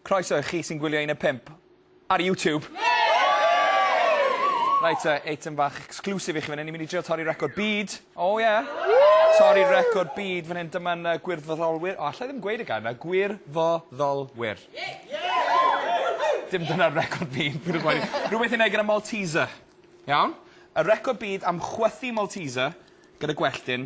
Croeso i chi sy'n gwylio un o pump ar YouTube. Reit te, eitem fach exclusive i chi fan hyn. Ni'n mynd i drio torri record byd. O oh, ie. Yeah. Torri record byd fan hyn. Dyma'n uh, gwirfoddolwyr. O, allai ddim gweud y gair yna. Gwirfoddolwyr. Dim dyna'r record byd. Rhywbeth i'n ei gyda Malteser. Iawn? Y record byd am chwythu Malteser gyda gwelltyn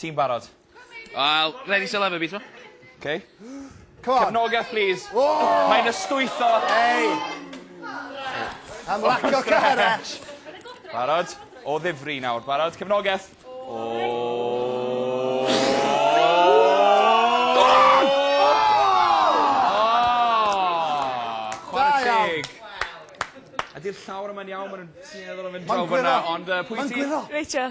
Ti'n barod? Wel, ready to love a bit t'mo'? Ok. Come on. Cefnogaeth plîs. O! Mae'n ystwytho. Ei! Am lack o courage. Barod? O ddifri nawr. Barod? Cefnogaeth. Ydi'r llawr yma'n iawn ma' nw'n tueddol o fynd draw fynna ond yy pwy sy... Ma'n gwiro. Rachel.